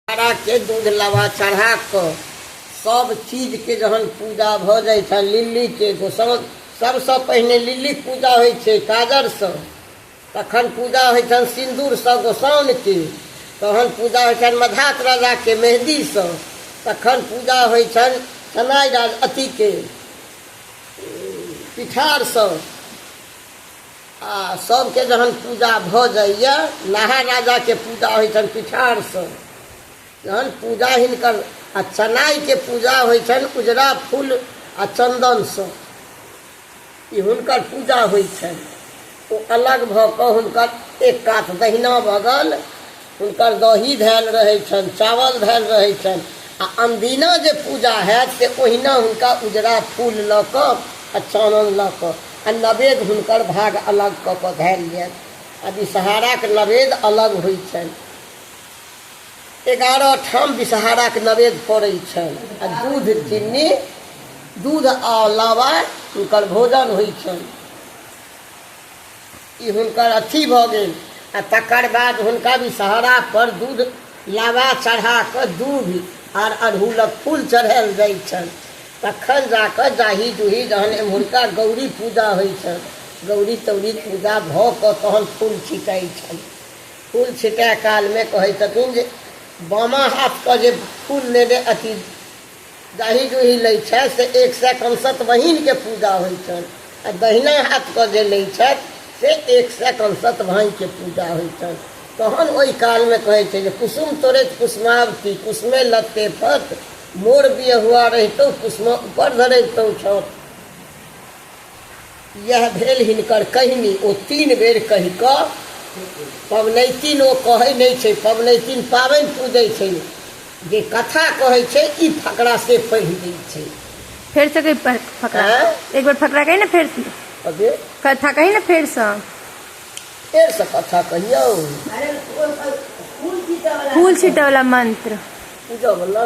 तारा के दूध लावा चढ़ा क सब चीज के जहन पूजा भ जाइ छै लिल्ली के एगो सब सबसँ पहिने लिल्ली पूजा होइ छै काजर सँ तखन पूजा होइ छनि सिन्दूर सँ गोसाउन के तहन पूजा होइ छनि मधात राजा के मेहदी सँ तखन पूजा होइ छनि सनाइ राज अथी के पिठार सँ आ सभके जहन पूजा भऽ जाइए नहा राजाके पूजा होइ छनि पिठारसँ जहन पूजा हिनकर आ चनाइके पूजा होइ छनि उजरा फूल आ चन्दनसँ ई हुनकर पूजा होइ छनि ओ अलग भऽ कऽ हुनकर एक कात दहिना बगल हुनकर दही धयल रहै छनि चावल धयल रहै छनि आ अनदिना जे पूजा हैत से ओहिना हुनका उजरा फूल लऽ कऽ आ चानन लऽ कऽ आ नवेद हुनकर भाग अलग कऽ कऽ धयल जायत आ विषहाराक नवेद अलग होइ छनि एगारह ठाम विषहाराक नवेद पड़ै छनि आ दूध चीनी दूध आ लावा हुनकर भोजन होइ छनि ई हुनकर अथी भऽ गेल आ तकर बाद हुनका विषहरा पर दूध लावा चढ़ा कऽ दूध आर अड़हुलक फूल चढ़ायल जाइ छनि तखन जा कऽ जाही जूही जहन एम्हुरका गौरी पूजा होइ छनि गौरी तौरी पूजा भऽ कऽ तहन फूल छिटाइ छनि फूल छिटाय कालमे कहै छथिन जे बामा हाथके जे फूल लेने अथी दही दुहि लैत छथि से एक सए कंसत बहिनके पूजा होइत छनि आ दहिना हाथके जे लैत छथि से एक सए कंसत भाइके पूजा होइत छनि तहन ओहि कालमे कहैत छै जे कुसुम तोड़ैत कुसुमावती कुसुमे लत्ते फत मोर बियहुआ रहितौ कुसुम ऊपर धरैतौ छत इएह भेल हिनकर कहिनी। ओ तीन बेर कहि कऽ पबनैतिन ओ कहै नै छै। पबनैतिन पाबैन पूजै छै। जे कथा कहै छै ई फकड़ा से पढ़ि दै छै। फेर सँ कहि फकड़ा। आँय? एक बेर फकड़ा कहि ने फेर सँ। कथी? कथा कहि ने फेर सँ। फेर सँ कथा कहियौ। फूल छीटऽ बला मंत्र। पूजऽ बला।